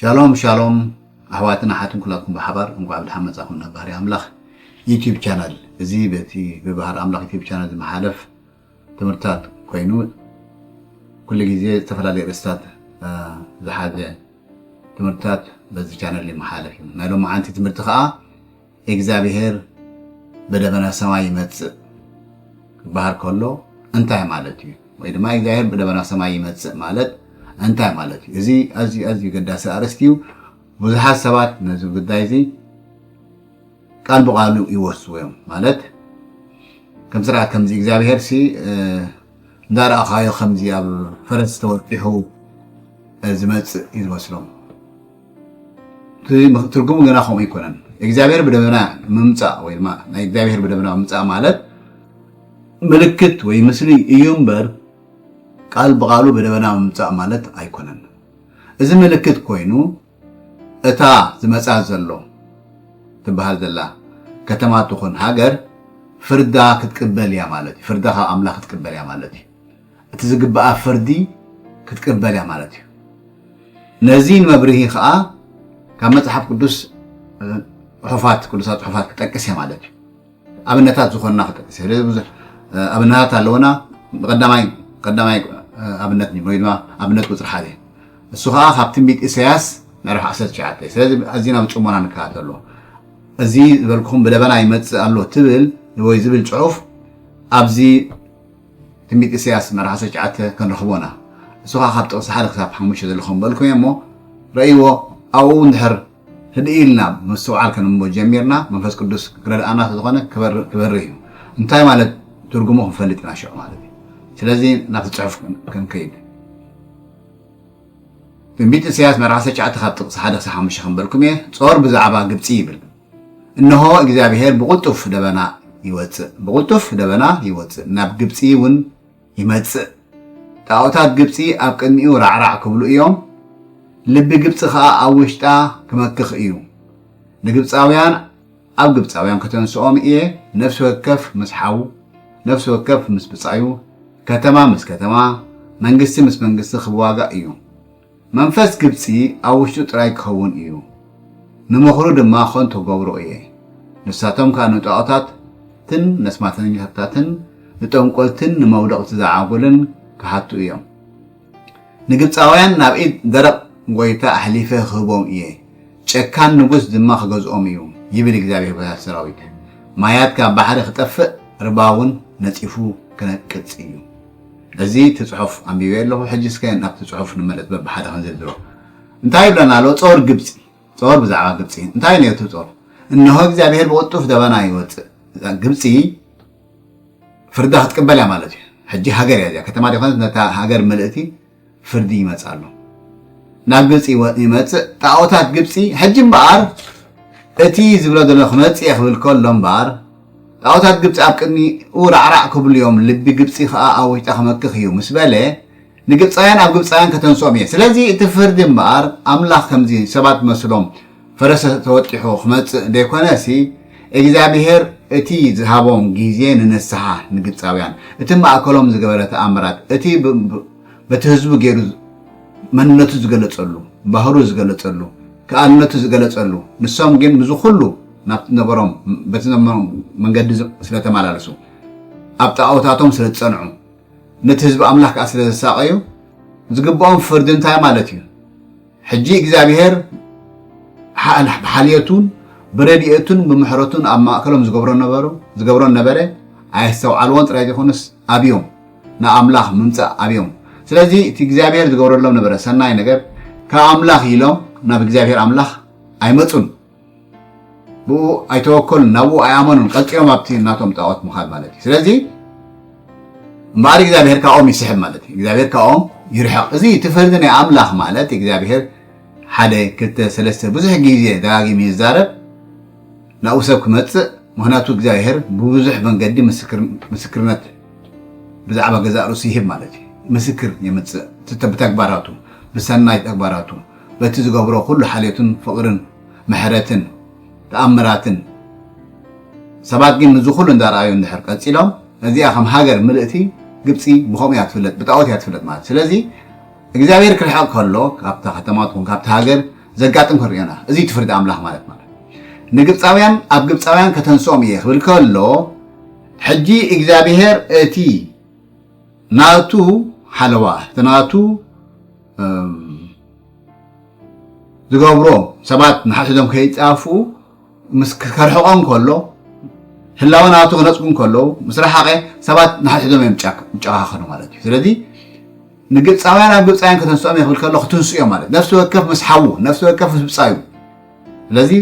ሻሎም ሻሎም ኣሕዋትን ኣሓትን ኩላትኩም ብሓባር እንኳዕ ብድሓን መፃኹም ናብ ባህሪ ኣምላኽ ዩቲብ ቻናል እዚ በቲ ብባህሪ ኣምላኽ ዩቲብ ቻናል ዝመሓለፍ ትምህርትታት ኮይኑ ኩሉ ግዜ ዝተፈላለዩ ርእስታት ዝሓዘ ትምህርትታት በዚ ቻነል ይመሓለፍ እዩ ናይ ሎማዓንቲ ትምህርቲ ከዓ እግዚኣብሄር ብደበና ሰማይ ይመፅእ ክበሃል ከሎ እንታይ ማለት እዩ ወይ ድማ እግዚኣብሄር ብደበና ሰማይ ይመፅእ ማለት እንታይ ማለት እዩ እዚ ኣዝዩ ኣዝዩ ገዳሲ ኣርእስቲ እዩ ብዙሓት ሰባት ነዚ ጉዳይ እዚ ቃል ብቃሉ ይወስዎ እዮም ማለት ከም ስርዓት ከምዚ እግዚኣብሄር ሲ እንዳረኣኻዮ ከምዚ ኣብ ፈረስ ተወጢሑ ዝመፅእ እዩ ዝመስሎም ትርጉሙ ገና ከምኡ ኣይኮነን እግዚኣብሄር ብደመና ምምፃእ ወይ ድማ ናይ እግዚኣብሄር ብደመና ምምፃእ ማለት ምልክት ወይ ምስሊ እዩ እምበር ቃል ብቃሉ ብደመና ምምፃእ ማለት ኣይኮነን እዚ ምልክት ኮይኑ እታ ዝመጽኣ ዘሎ ትበሃል ዘላ ከተማ ትኹን ሃገር ፍርዳ ክትቅበል እያ ማለት እዩ። ፍርዳ ካብ ኣምላኽ ክትቅበል እያ ማለት እዩ። እቲ ዝግብኣ ፍርዲ ክትቅበል እያ ማለት እዩ። ነዚ ንመብርሂ ከዓ ካብ መጽሓፍ ቅዱስ ጽሑፋት ቅዱሳት ጽሑፋት ክጠቅስ እየ ማለት እዩ። ኣብነታት ዝኾንና ክጠቅስ እየ ብዙሕ ኣብነታት ኣለውና ቀዳማይ ቀዳማይ ኣብነት ወይ ድማ ኣብነት ቁፅሪ ሓደ እሱ ከዓ ካብ ትንቢት ኢሳያስ ምዕራፍ 19 ስለዚ ኣዝና ብፅሞና ንከታተሎ እዚ ዝበልኩም ብደበና ይመፅእ ኣሎ ትብል ወይ ዝብል ፅሑፍ ኣብዚ ትንቢት ኢሳያስ ምዕራፍ 19 ክንረኽቦና እሱ ከዓ ካብ ጥቕሲ ሓደ ክሳብ ሓሙሽተ ዘለኹም በልኩም እየ እሞ ረእይዎ ኣብኡ እንድሕር ህድእ ኢልና ምስትውዓል ከነንብቦ ጀሚርና መንፈስ ቅዱስ ክረድኣና ስለዝኾነ ክበርህ እዩ እንታይ ማለት ትርጉሙ ክንፈልጥ ኢና ሽዑ ማለት እዩ ስለዚ ናብቲ ፅሑፍ ክንከይድ ትንቢት ኢሳያስ ምዕራፍ 19 ካብ ጥቕሲ 1 ክሳብ 5 ክንበልኩም እየ ጾር ብዛዕባ ግብፂ ይብል እነሆ እግዚኣብሄር ብቕልጡፍ ደበና ይወፅእ ብቕልጡፍ ደበና ይወፅእ ናብ ግብፂ እውን ይመጽእ። ጣኦታት ግብጺ ኣብ ቅድሚኡ ራዕራዕ ክብሉ እዮም፣ ልቢ ግብጺ ኸኣ ኣብ ውሽጣ ክመክኽ እዩ። ንግብጻውያን ኣብ ግብጻውያን ከተንስኦም እየ፣ ነፍሲ ወከፍ ምስ ሓው፣ ነፍሲ ወከፍ ምስ ብጻዩ፣ ከተማ ምስ ከተማ፣ መንግስቲ ምስ መንግስቲ ክዋጋእ እዩ። መንፈስ ግብጺ ኣብ ውሽጡ ጥራይ ኪኸውን እዩ፣ ንምኽሩ ድማ ኸንቱ ክገብሮ እየ። ንሳቶም ከኣ ንጣኦታትን ነስማተኛታትን ንጠንቈልትን ንመውደቕቲ ዝዓጉልን ኪሓቱ እዮም። ንግብጻውያን ናብ ኢድ ደረቕ ጐይታ ኣሕሊፈ ኽህቦም እየ፣ ጨካን ንጉስ ድማ ኺገዝኦም እዩ፣ ይብል እግዚኣብሄር ጐይታ ሰራዊት። ማያት ካብ ባሕሪ ኺጠፍእ፣ ርባውን ነጺፉ ኪነቅጽ እዩ። እዚ እቲ ጽሑፍ ኣንቢበዮ ኣለኹ ሕጂ እስከ ናብቲ ጽሑፍ ንመለስ በብሓደ ክንዝርዝሮ እንታይ ይብለና ኣሎ ጾር ግብጺ ጾር ብዛዕባ ግብጺ እንታይ ነይሩ እቲ ጾር እነሆ እግዚኣብሔር ብቕልጡፍ ደበና ይወጽእ ግብጺ ፍርዳ ክትቅበል እያ ማለት እዩ ሕጂ ሃገር እያ እዚኣ ከተማ ዲኾነት ነታ ሃገር ምልእቲ ፍርዲ ይመጽእ ኣሎ ናብ ግብፂ ይመፅእ ጣዖታት ግብፂ ሕጂ እምበኣር እቲ ዝብሎ ዘሎ ክመፅእ እየ ክብል ከሎ እምበኣር ጣዖታት ግብፂ ኣብ ቅድሚኡ ራዕራዕ ክብሉ እዮም ልቢ ግብፂ ከዓ ኣብ ውሽጣ ክመክኽ እዩ ምስ በለ ንግብፃውያን ኣብ ግብፃውያን ከተንስኦም እየ ስለዚ እቲ ፍርዲ እምበኣር ኣምላኽ ከምዚ ሰባት መስሎም ፈረሰ ተወጢሑ ክመጽእ ደይኮነሲ እግዚኣብሄር እቲ ዝሃቦም ግዜ ንንስሓ ንግብጻውያን እቲ ማእከሎም ዝገበረ ተኣምራት እቲ በቲ ህዝቡ ገይሩ መንነቱ ዝገለጸሉ ባህሩ ዝገለጸሉ ክኣልነቱ ዝገለጸሉ ንሶም ግን ምዚ ኩሉ ናብቲ ነበሮም በቲ ነበሮም መንገዲ ስለተመላለሱ ኣብ ጣኦታቶም ስለዝጸንዑ ነቲ ህዝቢ ኣምላኽ ከኣ ስለዘሳቐዩ ዝግብኦም ፍርዲ እንታይ ማለት እዩ? ሕጂ እግዚኣብሄር ብሓልየቱን ብረድኤቱን ብምሕረቱን ኣብ ማእከሎም ዝገብሮ ነበሩ ዝገብሮን ነበረ ኣየስተውዓልዎን ጥራይ ዘይኮነስ ኣብዮም ንኣምላኽ ምምጻእ ኣብዮም ስለዚ እቲ እግዚኣብሄር ዝገብረሎም ነበረ ሰናይ ነገር ካብ ኣምላኽ ኢሎም ናብ እግዚኣብሄር ኣምላኽ ኣይመጹን ብኡ ኣይተወከሉን ናብኡ ኣይኣመኑን ቀፂሎም ኣብቲ ናቶም ጣዖት ምኻድ ማለት እዩ ስለዚ እምበኣር እግዚኣብሔር ካብኦም ይስሕብ ማለት እዩ እግዚኣብሔር ካብኦም ይርሕቕ እዚ እቲ ፍርዲ ናይ ኣምላኽ ማለት እግዚኣብሔር ሓደ ክልተ ሰለስተ ብዙሕ ግዜ ደጋጊሙ ይዛረብ ናብኡ ሰብ ክመፅእ ምክንያቱ እግዚኣብሔር ብብዙሕ መንገዲ ምስክርነት ብዛዕባ ገዛእ ርእሱ ይህብ ማለት እዩ ምስክር የምፅእ ብተግባራቱ ብሰናይ ተግባራቱ በቲ ዝገብሮ ኩሉ ሓልዮትን ፍቕርን ምሕረትን ተኣምራትን ሰባት ግን እዚ ኩሉ እንዳርኣዩ እንድሕር ቀጺሎም እዚኣ ከም ሃገር ምልእቲ ግብጺ ብከምኡ እያ ትፍለጥ ብጣኦት እያ ትፍለጥ ማለት ስለዚ እግዚኣብሔር ክርሕቕ ከሎ ካብታ ከተማ ትኹን ካብቲ ሃገር ዘጋጥም ክንሪኦና እዚ ትፍርዲ ኣምላኽ ማለት ማለት ንግብጻውያን ኣብ ግብጻውያን ከተንስኦም እየ ክብል ከሎ ሕጂ እግዚኣብሔር እቲ ናቱ ሓለዋ እቲ ናቱ ዝገብሮ ሰባት ንሓድሕዶም ከይፃፉ ምስ ከርሕቆም ከሎ ህላወ ናቱ ክነፅጉ ከለዉ ምስ ረሓቐ ሰባት ንሓድሕዶም እዮም ይጨኻኸኑ ማለት እዩ ስለዚ ንግብፃውያን ኣብ ግብፃውያን ከተንስኦም የኽብል ከሎ ክትንስኡ እዮም ማለት ነፍሲ ወከፍ ምስ ሓዉ ነፍሲ ወከፍ ምስ ብፃዩ ስለዚ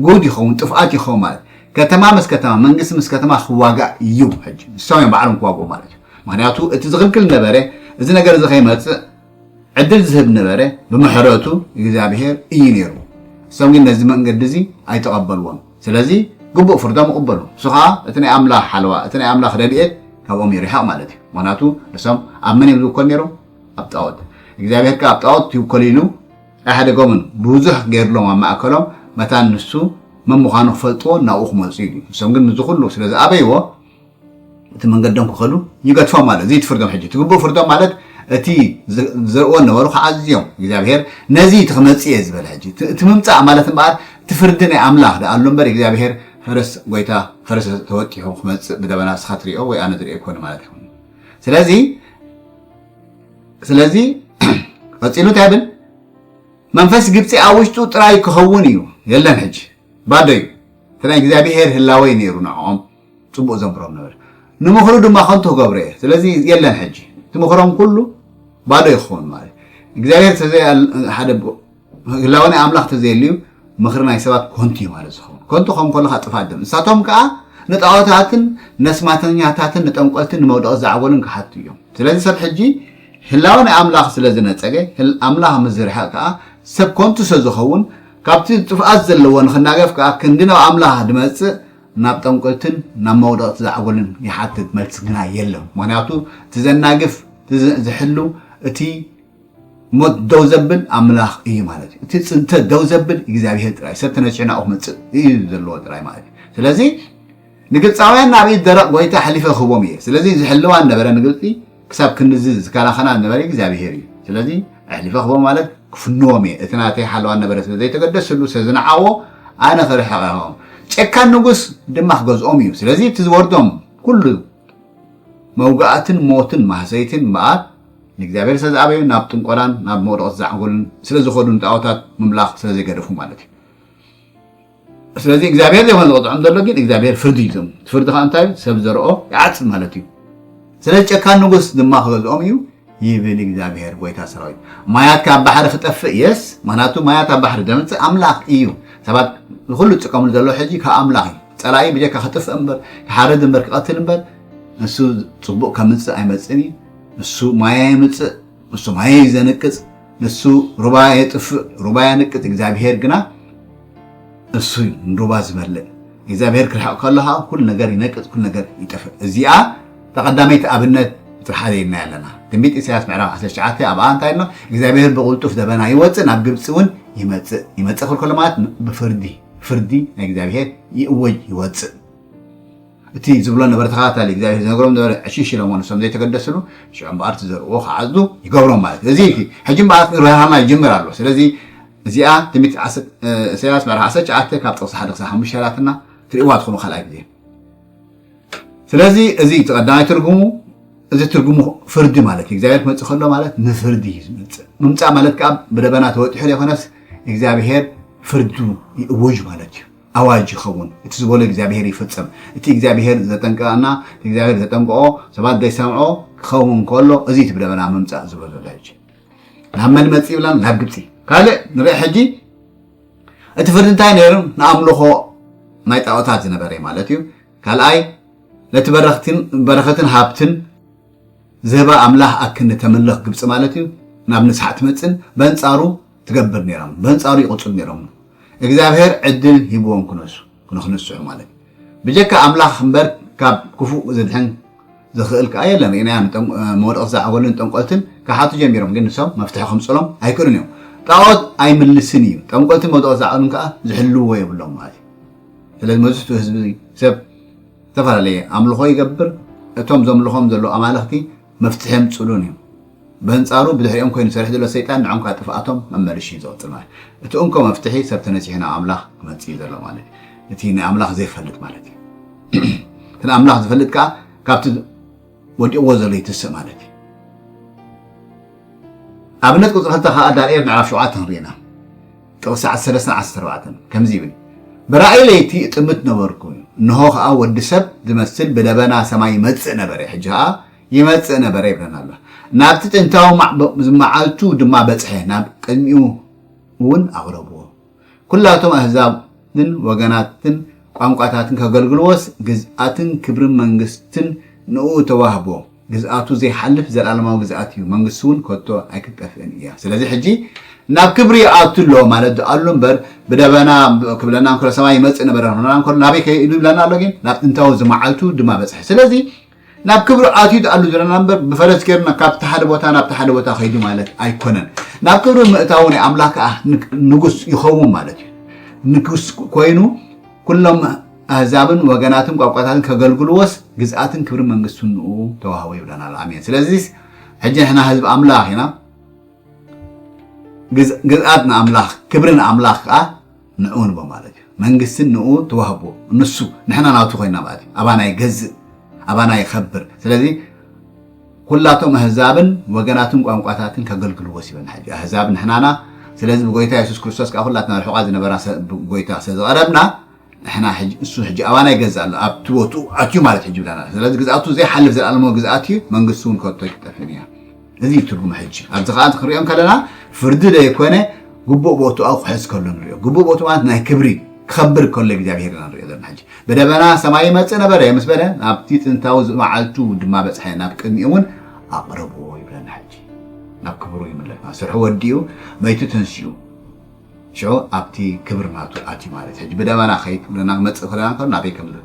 ጉድ ይኸውን ጥፍኣት ይኸውን ማለት ከተማ ምስ ከተማ መንግስቲ ምስ ከተማ ክዋጋእ እዩ ሕጂ ንሶም እዮም ባዕሎም ክዋግኡ ማለት እዩ ምክንያቱ እቲ ዝኽልክል ነበረ እዚ ነገር እዚ ከይመፅእ ዕድል ዝህብ ነበረ ብምሕረቱ እግዚኣብሄር እዩ ነይሩ እሶም ግን ነዚ መንገዲ እዚ ኣይተቐበልዎን ስለዚ ግቡእ ፍርዶም ይቕበሉ እሱ ከዓ እቲ ናይ ኣምላኽ ሓለዋ እቲ ናይ ኣምላኽ ረድኤት ካብኦም ይርሕቕ ማለት እዩ ምክንያቱ ንሶም ኣብ መን እዮም ዝውከሉ ነይሮም ኣብ ጣዖት እግዚኣብሄር ከዓ ኣብ ጣዖት ይውከሉ ኢሉ ኣይሓደጎምን ብዙሕ ገርሎም ኣብ ማእከሎም መታን ንሱ መን ምዃኑ ክፈልጥዎ ናብኡ ክመጹ ኢሉ ንሶም ግን ንዚ ኩሉ ስለ ዝኣበይዎ እቲ መንገዶም ክኸዱ ይገድፎም ኣሎ እዚ ትፍርዶም ሕጂ ትግብኡ ፍርዶም ማለት እቲ ዝዘርእዎ ነበሩ ከዓ ኣዝዮም እግዚኣብሔር ነዚ እቲ ክመጽእ እየ ዝበለ ሕጂ እቲ ምምጻእ ማለት እምበኣር እቲ ፍርዲ ናይ ኣምላኽ ደኣ ኣሎ እምበር እግዚኣብሔር ፈረስ ጎይታ ፈረስ ተወጢሑ ክመጽእ ብደበና ንስኻ ትሪኦ ወይ ኣነ ዝሪኦ ኣይኮነ ማለት ኣይኮነ ስለዚ ስለዚ ቀፂሉ እንታይ ብል መንፈስ ግብፂ ኣብ ውሽጡ ጥራይ ክኸውን እዩ የለን ሕጂ ባዶ እዩ እቲ ናይ እግዚኣብሄር ህላወይ ነይሩ ንዕኦም ፅቡቅ ዘምህሮም ነበር ንምኽሩ ድማ ከንቱ ክገብሮ እየ ስለዚ የለን ሕጂ እቲ ምኽሮም ኩሉ ባዶ ይኸውን ማለት እግዚኣብሄር ተዘይ ሓደ ህላወ ናይ ኣምላኽ ተዘየልዩ ምኽሪ ናይ ሰባት ኮንቱ እዩ ማለት ዝኸውን ኮንቱ ከም ከለካ ጥፋት ድም ንሳቶም ከዓ ንጣዖታትን ነስማተኛታትን ንጠንቆልትን ንመውደቂ ዝዓበሉን ክሓቱ እዮም ስለዚ ሰብ ሕጂ ህላወ ናይ ኣምላኽ ስለ ዝነጸገ ኣምላኽ ምስ ዝርሕቕ ከዓ ሰብ ኮንቱ ስለ ዝኸውን ካብቲ ጥፍኣት ዘለዎ ንክናገፍ ከዓ ክንዲ ናብ ኣምላኽ ድመጽእ ናብ ጠንቆልትን ናብ መውደቕቲ ዝዓበሉን ይሓትት መልሲ ግና የለን ምክንያቱ እቲ ዘናግፍ ዝሕሉ እቲ ሞት ደው ዘብል ኣምላኽ እዩ ማለት እዩ። እቲ ፅንተት ደው ዘብል እግዚኣብሄር ጥራይ ሰብ ተነፂዑ ናብኡ ክመፅእ እዩ ዘለዎ ጥራይ ማለት እዩ። ስለዚ ንግብፃውያን ናብ ኢድ ደረቕ ጎይታ ኣሕሊፈ ክህቦም እየ። ስለዚ ዝሕልዋ ዝነበረ ንግብፂ ክሳብ ክንድዚ ዝከላኸላ ዝነበረ እግዚኣብሄር እዩ። ስለዚ ኣሕሊፈ ክህቦም ማለት ክፍንዎም እየ። እቲ ናተይ ሓለዋ ዝነበረ ስለ ዘይተገደስሉ ስለ ዝነዓዎ ኣነ ክርሕቕ እየ ክብሎም። ጨካን ንጉስ ድማ ክገዝኦም እዩ። ስለዚ እቲ ዝወርዶም ኩሉ መውጋእትን ሞትን ማህሰይትን እምበኣር ንእግዚኣብሔር ስለ ዝኣበዩ ናብ ጥንቆላን ናብ መውደቕቲ ዛዕጎልን ስለ ዝኸዱ ንጣዖታት ምምላኽ ስለ ዘይገደፉ ማለት እዩ ስለዚ እግዚኣብሔር ዘይኮነ ዝቕፅዖም ዘሎ ግን እግዚኣብሔር ፍርዲ እዩ ዘም ፍርዲ ከዓ እንታይ እዩ ሰብ ዘርኦ ይዓፅድ ማለት እዩ ስለዚ ጨካን ንጉስ ድማ ክገዝኦም እዩ ይብል እግዚኣብሔር ጎይታ ሰራዊት ማያት ካብ ባሕሪ ክጠፍእ የስ ምክንያቱ ማያት ኣብ ባሕሪ ዘምፅእ ኣምላኽ እዩ ሰባት ንኩሉ ዝጥቀምሉ ዘሎ ሕጂ ካብ ኣምላኽ እዩ ጸላኢ ብጀካ ክጥፍእ እምበር ክሓርድ እምበር ክቐትል እምበር ንሱ ጽቡቕ ከምጽእ ኣይመጽእን እዩ። ንሱ ማያ የምጽእ፣ ንሱ ማያ እዩ ዘንቅጽ፣ ንሱ ሩባ የጥፍእ፣ ሩባ የንቅጽ። እግዚኣብሄር ግና እሱ እዩ ንሩባ ዝበልዕ። እግዚኣብሄር ክርሕቕ ከሎ ከዓ ኩሉ ነገር ይነቅጽ፣ ኩሉ ነገር ይጠፍእ። እዚኣ ተቐዳመይቲ ኣብነት ጥራሕ ኣርእየናያ ኣለና። ትንቢት ኢሳያስ ምዕራፍ 19 ኣብኣ እንታይ ኣሎ እግዚኣብሄር ብቕልጡፍ ደበና ይወጽእ ናብ ግብጺ እውን ይመጽእ። ይመጽእ ክብል ከሎ ማለት ብፍርዲ ፍርዲ ናይ እግዚኣብሔር ይእወጅ ይወፅእ እቲ ዝብሎ ነበረ ተኸታታሊ እግዚኣብሔር ዝነገሮም ነበረ ዕሽሽ ኢሎሞ ንሶም ዘይተገደስሉ ሽዑ እምበኣር ትዘርእዎ ክዓፅዱ ይገብሮም ማለት እዩ እዚ ሕጂ እምበኣር ርሃማ ይጅምር ኣሎ ስለዚ እዚኣ ትንቢት ኢሳያስ ምዕራፍ ዓሰርተ ትሽዓተ ካብ ጥቕሲ ሓደ ክሳብ ሓሙሽተ ላትና ትርእዋ ትኹኑ ካልኣይ ግዜ ስለዚ እዚ እቲ ቀዳማይ ትርጉሙ እዚ ትርጉሙ ፍርዲ ማለት እዩ እግዚኣብሔር ክመፅእ ከሎ ማለት ንፍርዲ እዩ ዝመፅእ ምምፃእ ማለት ከዓ ብደበና ተወጢሑ ዘይኮነስ እግዚኣብሔር ፍርዱ ይእውጅ ማለት እዩ ኣዋጅ ይኸውን እቲ ዝበሎ እግዚኣብሔር ይፍፅም እቲ እግዚኣብሔር ዘጠንቀቀና እቲ እግዚኣብሔር ዘጠንቀቆ ሰባት ዘይሰምዖ ክኸውን ከሎ እዚ እቲ ብደበና ምምፃእ ዝብሎ ዘሎ ሕጂ ናብ መን መፅ ይብላን ናብ ግብፂ ካልእ ንርኢ ሕጂ እቲ ፍርዲ እንታይ ነይሩ ንኣምልኾ ናይ ጣዖታት ዝነበረ ማለት እዩ ካልኣይ ነቲ በረኸትን ሃብትን ዝህባ ኣምላኽ ኣክኒ ተምልኽ ግብፂ ማለት እዩ ናብ ንስሓ ትመፅን በንፃሩ ትገብር ነይሮም በንፃሩ ይቕፅሉ ነይሮም እግዚኣብሔር ዕድል ሂብዎም ክነሱ ንክንስሑ ማለት ብጀካ ኣምላኽ እምበር ካብ ክፉእ ዝድሕን ዝኽእል ከዓ የለን ርኢናዮም መወድቕት ዝዓበሉን ጠንቆልትን ክሓቱ ጀሚሮም ግን ንሶም መፍትሒ ከምፅሎም ኣይክእሉን እዮም ጣዖት ኣይምልስን እዩ ጠንቆልትን መወድቕት ዝዓበሉን ከዓ ዝሕልዎ የብሎም ማለት እዩ ስለዚ መብዝሕትኡ ህዝቢ ሰብ ዝተፈላለየ ኣምልኾ ይገብር እቶም ዘምልኾም ዘሎ ኣማለኽቲ መፍትሒም ፅሉን እዩ በንፃሩ ብድሕሪኦም ኮይኑ ዝሰርሕ ዘሎ ሰይጣን ንዖም ካብ ጥፍኣቶም መመልሽ እዩ ዝቕፅል ማለት እቲ እንኮ መፍትሒ ሰብ ተነፂሑ ናብ ኣምላኽ ክመፅእ እዩ ዘሎ ማለት እዩ እቲ ንኣምላኽ ዘይፈልጥ ማለት እዩ እቲ ንኣምላኽ ዝፈልጥ ከዓ ካብቲ ወዲቕዎ ዘሎ ይትስእ ማለት እዩ ኣብነት ቁፅሪ ክልተ ከዓ ዳንኤል ምዕራፍ ሸውዓተ ክንሪኢና ጥቕሲ ዓሰርተ ሰለስተ ዓሰርተ ኣርባዕተ ከምዚ ይብል፣ ብራእይ ለይቲ እጥምት ነበርኩ፣ እንሆ ኸኣ ወዲ ሰብ ዚመስል ብደበና ሰማይ ይመጽእ ነበረ፣ ሕጂ ኸኣ ይመጽእ ነበረ ይብለና ኣሎ። ናብቲ ጥንታዊ መዓልቱ ድማ በጽሐ፣ ናብ ቅድሚኡውን ኣቕረብዎ። ኵላቶም ኣህዛብን ወገናትን ቋንቋታትን ከገልግልዎስ፣ ግዝኣትን ክብርን መንግስትን ንእኡ ተዋህቦ። ግዝኣቱ ዘይሓልፍ ዘልኣለማዊ ግዝኣት እዩ፣ መንግስቱ እውን ከቶ ኣይክትጠፍእን እያ። ስለዚ ሕጂ ናብ ክብሪ ይኣቱ ኣሎ ማለት ዶ ኣሎ እምበር ብደበና ክብለና እንከሎ ሰማይ ይመጽእ ነበረ ክብለና እንከሎ ናበይ ከይዱ ይብለና ኣሎ ግን ናብ ጥንታዊ ዝመዓልቱ ድማ በጽሐ። ስለዚ ናብ ክብሪ ኣትዩ ዶ ኣሎ ዝብለና እምበር ብፈረስ ገይሩና ካብቲ ሓደ ቦታ ናብቲ ሓደ ቦታ ከይዱ ማለት ኣይኮነን። ናብ ክብሪ ምእታዉ ናይ ኣምላኽ ከኣ ንጉስ ይኸውን ማለት እዩ። ንጉስ ኮይኑ ኩሎም ኣህዛብን ወገናትን ቋንቋታትን ከገልግልዎስ ግዝኣትን ክብርን መንግስቱን ንኡ ተዋህቦ ይብለና ኣሎ ኣሜን ስለዚስ ሕጂ ንሕና ህዝቢ ኣምላኽ ኢና ግዝኣት ንኣምላኽ ክብሪ ንኣምላኽ ከዓ ንኡ ንቦ ማለት እዩ መንግስትን ንኡ ተዋህቦ ንሱ ንሕና ናቱ ኮይና ማለት እዩ ኣባና ይገዝእ ኣባና ይኸብር ስለዚ ኩላቶም ኣህዛብን ወገናትን ቋንቋታትን ከገልግልዎስ ይበና ሕጂ ኣህዛብ ንሕናና ስለዚ ብጎይታ የሱስ ክርስቶስ ከዓ ኩላትና ርሑቓ ዝነበራ ጎይታ ስለዝቐረብና ንሕና ሕጂ እሱ ሕጂ ኣባና ይገዝእ ኣሎ ኣብቲ ቦትኡ ኣትዩ ማለት ሕጂ ብለና ኣሎ ስለዚ ግዝኣቱ ዘይሓልፍ ዘልኣለማዊ ግዝኣት እዩ መንግስቲ እውን ከቶ ኣይክጠፍእን እያ እዚ እዩ ትርጉም ሕጂ ኣብዚ ከኣ ክንሪኦ እንከለና ፍርዲ ዘይኮነ ግቡእ ቦትኡ ኣብ ክሕዝ ከሎ ንሪኦ ግቡእ ቦትኡ ማለት ናይ ክብሪ ክኸብር ከሎ እግዚኣብሄር ኢና ንሪኦ ዘለና ሕጂ በደበና ሰማይ ይመጽእ ነበረ ምስ በለ ናብቲ ጥንታዊ መዓልቱ ድማ በጽሐ ናብ ቅድሚኡ እውን ኣቕረብዎ ይብለና ሕጂ ናብ ክብሩ ይምለስ ስርሑ ወዲኡ መይቱ ተንሲኡ ሽዑ ኣብቲ ክብሪ ናቱ ኣትዩ ማለት ሕጂ ብደመና ከይትብለና ክመጽእ ከሎ ናንከሎ ናበይ ከምዝ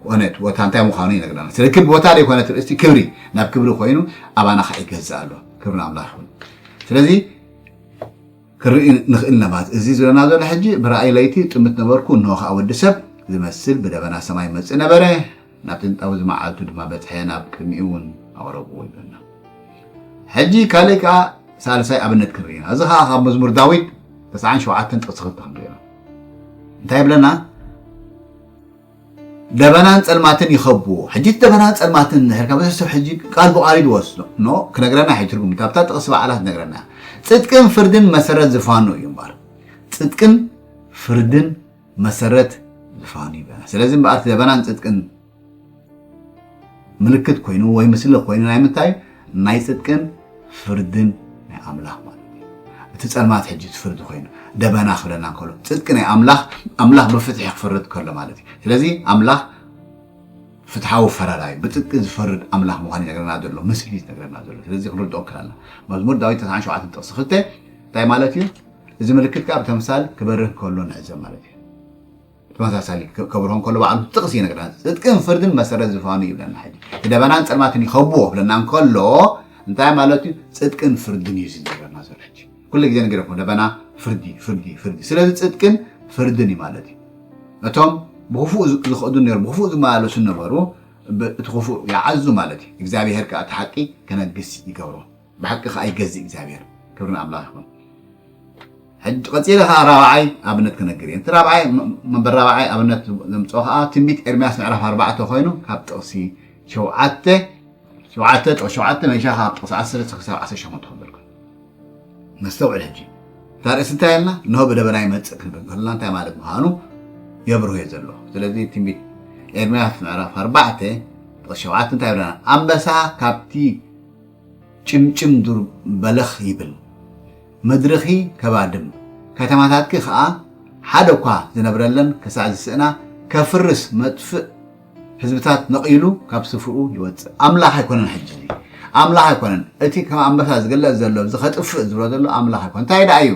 ኮነ ቦታ እንታይ ምዃኑ ይነግረና ስለ ክብ ቦታ ዘይኮነ ትርእስቲ ክብሪ ናብ ክብሪ ኮይኑ ኣባና ከዓ ይገዝእ ኣሎ ክብሪ ኣምላኽ ይኹን ስለዚ ክንርኢ ንኽእል ነማት እዚ ዝለና ዘሎ ሕጂ ብራእይ ለይቲ ጥምት ነበርኩ እንሆ ከዓ ወዲ ሰብ ዝመስል ብደበና ሰማይ መፅእ ነበረ ናብቲ ንጣውዚ መዓልቱ ድማ በጽሐ ናብ ቅድሚኡ እውን ኣቕረብዎ ይብለና። ሕጂ ካልእ ከኣ ሳልሳይ ኣብነት ክንርኢ ኢና። እዚ ከኣ ካብ መዝሙር ዳዊት ተስዓን ሸውዓተን ጥቕሲ ክልተ ክንርኢ ኢና። እንታይ ይብለና? ደበናን ጸልማትን ይኸብዎ። ሕጂ እቲ ደበናን ጸልማትን እንድሕርካ ብዙሕ ሰብ ሕጂ ቃል ብቓል እዩ ዝወስዶ ኖ ክነግረና እዩ ትርጉም እቲ ኣብታ ጥቕሲ በዓላ ትነግረና እያ። ጽድቅን ፍርድን መሰረት ዝፋኑ እዩ እምበኣር ጽድቅን ፍርድን መሰረት ዝፋኑ ይብለና ስለዚ እምበኣር እቲ ለበናን ጽድቅን ምልክት ኮይኑ ወይ ምስሊ ኮይኑ ናይ ምንታይ ናይ ጽድቅን ፍርድን ናይ ኣምላኽ ማለት እዩ እቲ ጸልማት ሕጂ እቲ ፍርዲ ኮይኑ ደበና ክብለና እንከሎ ጽድቂ ናይ ኣምላኽ ኣምላኽ ብፍትሒ ክፈርድ ከሎ ማለት እዩ ስለዚ ኣምላኽ ፍትሓዊ ፈራዳይ ብጽድቂ ዝፈርድ ኣምላኽ ምዃኑ ይነግረና ዘሎ ምስሊ ዝነግረና ዘሎ ስለዚ ክንርድኦ ክላና መዝሙር ዳዊት 97 ጥቕሲ ክልተ እንታይ ማለት እዩ እዚ ምልክት ከኣ ብተምሳል ክበርህ ከሎ ንዕዘብ ማለት እዩ። ብተመሳሳሊ ከብርሆ እንከሎ ባዕሉ እቲ ጥቕሲ ይነግረና። ጽድቅን ፍርድን መሰረት ዝፋኑ እዩ ይብለና። ሕጂ እቲ ደበናን ጸልማትን ይኸብዎ ክብለና እንከሎ እንታይ ማለት እዩ? ጽድቅን ፍርድን እዩ እዚ ዝነግረና ዘሎ። ሕጂ ኩሉ ግዜ ንገረኩም ደበና ፍርዲ ፍርዲ ፍርዲ ስለዚ ጽድቅን ፍርድን እዩ ማለት እዩ። እቶም ብክፉእ ዝኸዱ ነሩ ብክፉእ ዝመላለሱ ነበሩ እቲ ክፉእ ይዓዙ ማለት እዩ። እግዚኣብሄር ከኣ እቲ ሓቂ ክነግስ ይገብሮ። ብሓቂ ከኣ ይገዝእ እግዚኣብሔር ክብሪ ንኣምላኽ ይኹን። ሕጂ ቀጺለ ከኣ ራብዓይ ኣብነት ክነግር እየ። እቲ ራብዓይ መንበር ራብዓይ ኣብነት ዘምጽኦ ከኣ ትንቢት ኤርምያስ ምዕራፍ ኣርባዕተ ኮይኑ ካብ ጥቕሲ ሸውዓተ ሸውዓተ ጥቕሲ ሸውዓተ መይሻ ካብ ጥቕሲ ዓሰርተ ክሳብ ዓሰርተ ሸሞንተ ክብል ኮይኑ ነስተውዕል ሕጂ እታ ርእሲ እንታይ ኣልና እንሆ ብደበና ይመጽእ ክንብል ከለና እንታይ ማለት ምዃኑ የብርሆ እየ ዘሎ ስለዚ ትንቢት ኤርምያስ ምዕራፍ ኣርባዕተ ጥቕሲ ሸውዓተ እንታይ ይብለና ኣንበሳ ካብቲ ጭምጭም ዱር በለኽ ይብል ምድርኺ ከባድም ከተማታትኪ ከኣ ሓደ'ኳ ዝነብረለን ክሳዕ ዝስእና ከፍርስ መጥፍእ ህዝብታት ነቒሉ ካብ ስፍርኡ ይወጽእ። ኣምላኽ ኣይኮነን ሕጂ እዚ ኣምላኽ ኣይኮነን እቲ ከም ኣንበሳ ዝግለጽ ዘሎ እዚ ከጥፍእ ዝብሎ ዘሎ ኣምላኽ ኣይኮነን እንታይ ደኣ እዩ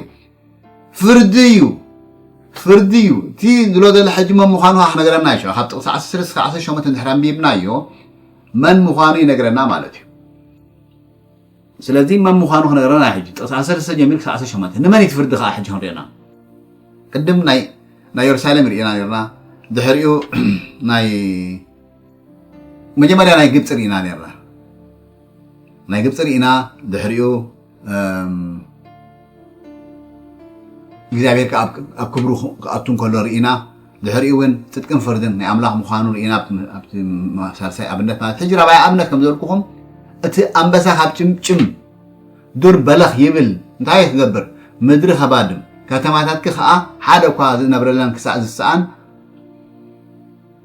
ፍርዲ እዩ ፍርዲ እዩ እቲ ዝሎ ዘሎ ሕጂ መን ምዃኑ ክነግረና እዩ ካብ ጥቕሲ 10 ክሳብ 18 እንድሕር ኣንቢብናዮ መን ምዃኑ ይነግረና ማለት እዩ ስለዚ መን ምዃኑ ክነግረና ሕጂ ጥቕሲ ኣሰለስተ ጀሚር ክሳብ ዓሰርተ ሸሞንተ ንመን እዩ ትፍርዲ ከዓ ሕጂ ክንሪእና ቅድም ናይ ናይ የሩሳሌም ርኢና ነርና ድሕሪኡ ናይ መጀመርያ ናይ ግብፂ ርኢና ነርና ናይ ግብፂ ርኢና ድሕሪኡ እግዚኣብሔር ከዓ ኣብ ክብሩ ክኣቱ እንከሎ ርኢና ድሕሪኡ እውን ፅድቅን ፍርድን ናይ ኣምላኽ ምዃኑ ርኢና ኣብቲ ሳልሳይ ኣብነት ማለት ሕጂ ራብዓይ ኣብነት ከም ዘልኩኹም እቲ ኣንበሳ ካብ ጭምጭም ዱር በለኽ ይብል እንታይ ክገብር ምድሪ ከባድም ከተማታትኪ ከዓ ሓደ እኳ ዝነብረለን ክሳእ ዝሰኣን